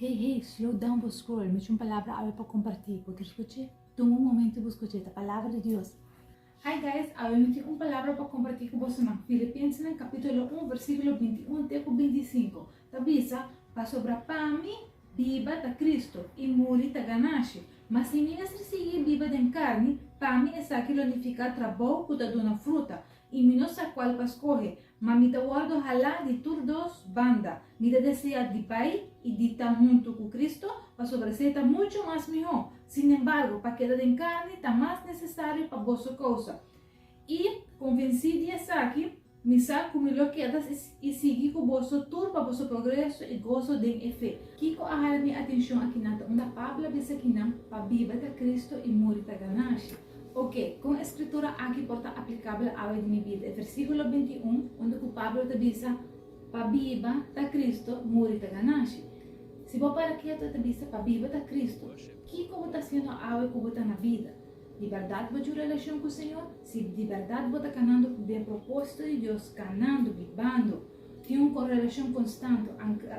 Hey hey, slow down bo scroll, mi c'un palabra awe pa comparti, bo kier scuchi? Tuma un momento y bu scuchi, ta palabra di Dios. Hi guys, awe mi tin un palabra pa comparti cu bosonan, Filipensenan capitulo un versiculo binti un te cu binti sinku ta bisa, Pasobra pa mi biba ta Cristo y muri ta ganashi, ma si mi mester sigui biba den carni, pa mi esaki lo nifica trabou cu ta duna fruta y mi no sa cual pa scoge, Ma mi ta wòrdu halá di tur dos banda. Mi ta deseá di bai i di ta huntu ku Kristu, pasobra esei ta muchu mas mihó. Sin embargo, pa keda den karni ta mas nesesario pa boso kousa. I, konvensí di esaki, mi sa ku mi lo keda i sigui ku boso tur pa boso progreso i goso den e fe. Kiko a hala mi atenshon akinan ta unda Pablo a bisa kinan, Pa biba ta Kristu i muri ta ganashi. Oke, kon e Skritura aki por ta aplikabel awe di mi bida? E versíkulo binti i un, unda ku Pablo ta bisa, Pa biba ta Kristu, muri ta gananshi. Si bo para ketu e ta bisa, Pa biba ta Kristu. Kiko bo ta hasiendo awe ku bo ta na bida? Di bèrdat bo cu relashon ku Señor? Si di bèrdat bo ta kanando den propósito di Dios, kanando, bibando, tin un relashon konstanti,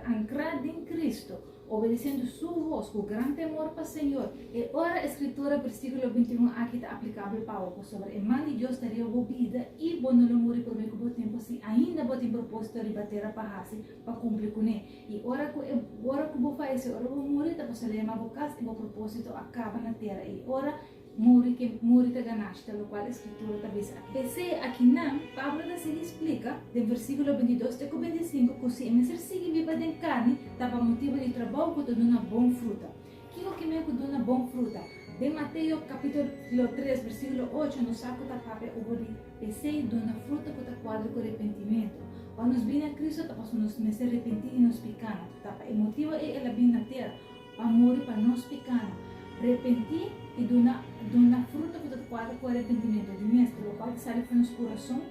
ankrá den Kristu, Obedeciendo su voz cu gran temor pa Señor. E ora e scritura versiculo binti y un aki ta aplicabel pa bo, pasobra e man di Dios ta riba bo bida y bo no lo muri prome cu bo tempo si ainda bo tin propósito riba tera pa haci pa cumpli cu ne. Y ora cu e ora cu bo falece, ora cu bo muri, ta pasobra lema bo cas y bo propósito a caba na tera y ora Muri ke muri ta ganashta, lokual e Skritura ta bisa aki. P'esei, akinan Pablo ta sigui splika den versíkulo bintidos te ku bintisinku ku si e mester sigui biba den karni ta pa motibu di trabou ku ta duna bon fruta. Kiko ke men ku duna bon fruta? Den Mateo kapítulo tres versíkulo ocho nos sa ku ta papia obo di p'esei duna fruta ku ta kuadra ku repentimentu. Pa nos bini na Kristu ta pasobra nos mester repentí di nos pikánan. Ta pa e motibu ei el a bini na tera. Pa muri pa nos picano. Repenti y duna duna fruto cu ta cuadra cu arepentimentu di mester, lo cual ta sali pasobra nos curason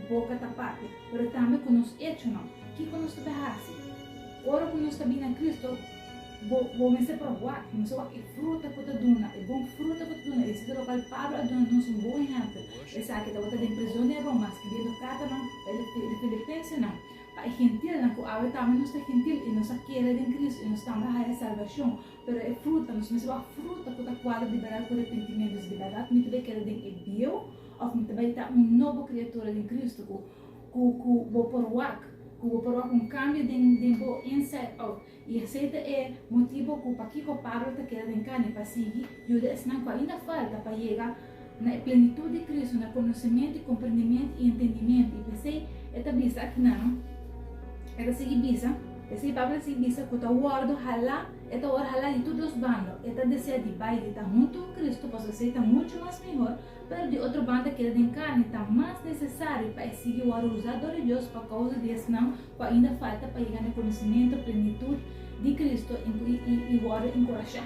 boca ta papia, pero tambe cu nos echonan. Kico nos ta bay haci? Ora cu nos ta bini na Cristo, bo bo mester probá, bo mester wak e fruta cu ta duna, e bon fruta cu ta duna. Y esaki ta locual Pablo a duna nos un bon ehempel, esaki tabata den prizon den Roma, scribiendo cartanan pa e filipensenan. Pa e gentilnan cu awe tambe nos ta gentil y nos a kere den Cristo y nos tambe a haya salvacion, pero e fruta, nos mester wak fruta cu ta cuadra di berdad cu repentimento. Si di berdad mi ta bay keda den e bieuw of mi ta bay ta un nobo criatura den Cristo cu bo por wak, cu bo por wak un cambio den bo inside out. I esei ta e motibu ku pakiko Pablo ta keda den kani pa sigui yuda esnan ku ainda falta pa yega na e plenitut di Kristu na konosementu i komprendimentu i entendimentu. I p'esei e ta bisa aki nan, e ta sigui bisa, p'esei Pablo ta sigui bisa ku ta wòrdu halá, e ta wòrdu halá di tur dos banda, e ta desea di bai di ta huntu ku Kristu pasobra esei ta muchu mas mihor, Pero di otro banda keda den carni ta mas necesario pa e sigui waruza dor di Dios pa causa di esnan cu ainda falta pa yega n'e conocimiento plenitud di Cristo y wordo encurasha.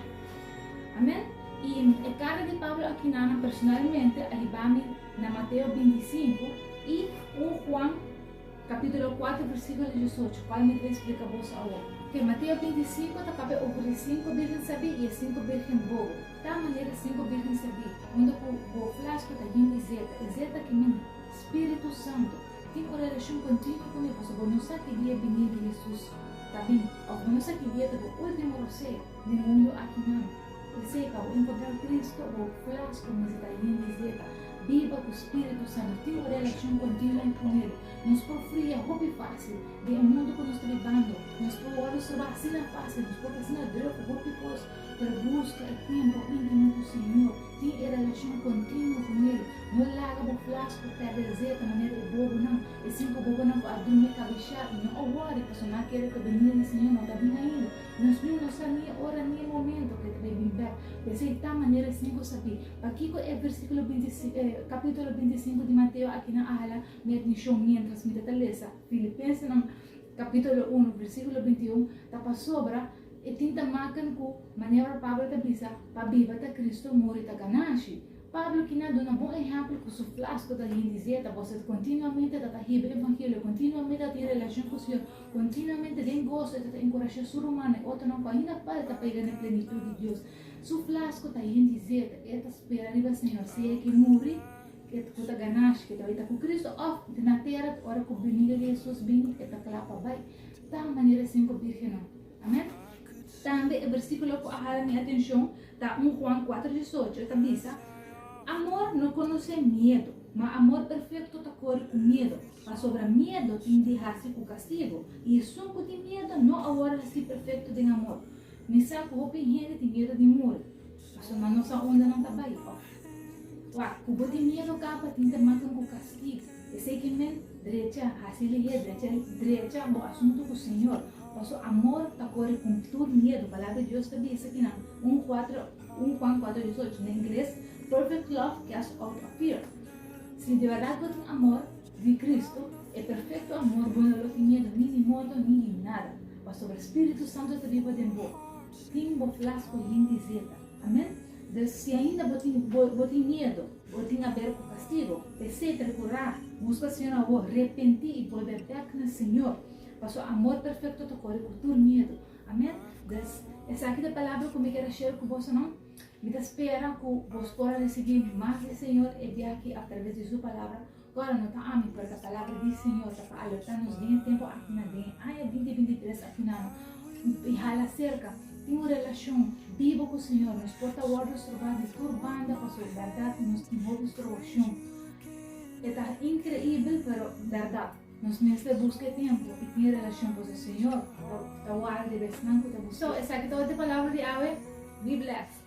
Amen. Y e carta di Pablo aki na nan personalmente a hibami na Mateo binti i sinku y un Juan capitulo cuatro versiculo diesocho, cual mi ta explica boso awor. Mateo binti i sinku ta papia over di sinku birgen sabi y e sinku birgen bobo. Ta manera si bo bigin sabí unda ku bo flash pa ta yin i zeta, i zeta ki mina, Spiritu Santu. Tin un relashon kontinuo ku mi pasobra bo no sa ki dia e bini di Hesus ta bin, òf bo no sa ki dia ta bo último roseo den mundu aki nan. P'esei, pa bo enkontrá Kristu, bo flash kumins'a ta yin i zeta. Biba ku Spiritu Santu. Tin un relashon kontinuo ku el. Nos por fria hopi fásil. Den e mundu ku nos ta bibando, nos por wòrdu soba asina fásil, nos por ta asina drùk hopi kos. Pero buska e tempu intimo ku Señor, tin e relacion continuo ku Nel. No laga bo plas ku pèrdè zeta manera e bobonan. E sinku bobonan ku a drumi kabishá i no a wòri pasobra nan a kere ku e benida di Señor no ta bin ainda. Nos niño no sa ni e ora ni e momento ku E ta bai bin bèk. P'esei ta manera e sinku sabí pakiko e versíkulo binti e kapítulo binti i sinku di Mateo akinan a hala mi atenshon miéntras mi ta ta lesa Filipensenan kapítulo unu, versíkulo binti i un, ta pasobra, E tin ta makan ku manera ora Pablo ta bisa, Pa biba ta Kristu, muri ta ganashi. Pablo kina a duna bon ehèmpel ku su flas ku ta di hende zeta, Boso e kontinuamente ta ta hibri evangelio, e kontinuamente ta tin relashon ku señor, kontinuamente den goso e ta ta enkurashá su rumannan i otronan ku ainda falta pa yega na e plenitut di Dios. Su flas ku ta hende zeta, e ta spera riba señor, sea e ke muri ku ta ganashi, ke ta bai ta ku Kristu, òf na tera ora ku binida di Hesus bini e ta kla pa bai. tal manera sinku bírgennan. Amen. Tambe e bersíkulo ku a hala mi atenshon ta un Juan kuater di disocho, e ta bisa, Amor no konosé miedu, ma amor perfekto ta kore ku miedu, pasobra miedu tin di hasi ku kastigu, i esun ku tin miedu no a wòrdu hasí perfekto den amor. Mi sa ku hopi hende tin miedu di muri. Paso nan no sa unda nan ta bai of kua. Ku bo tin miedu kapa tin ta makan ku kastigu. Esei ki men drecha, hasi lihé, drecha drecha bo asuntu ku Señor, paso amor ta kore ku tur miedu. Palabra di Dios ta bisa ki nan un kuatro un Juan kuatro diesocho, na ingles, Perfect love casts out a fear. Si di bèrdat bo tin amor di Kristu, e perfekto amor, bo no lo tin miedu ni di morto ni di nada, pasobra Spiritu Santu ta biba den bo. Tin bo plas ku hende zeta. Amen. Des si ainda bo tin bo tin miedo, bo tin aber ku kastigo, pesé, prekurá buska Señor awo, repentí i bolbe bèk na Señor, pa Su amor perfekto ta kore ku tur miedo. Amen. Des esaki ta e palabra ku mi kier a share ku bosonan. Mi ta spera ku bos por a risibí mas di Señor e dia aki atraves di Su palabra Ora no ta ami, parda palabra di Señor ta pa alerta nos den e tempo akina. Den e aña binti binti tres afinano i hala serka, tin un relashon bibu ku Señor. Nos por ta wòrdu stroba di tur banda pasobra bèrdat i nos tin hopi strobashon. E ta inkreibel, pero bèrdat. Nos mester buska e tempu i tin relashon pasobra Señor ta warda di e besnan ku ta busca. So, esaki ta ora di palabra di awe. Be blessed!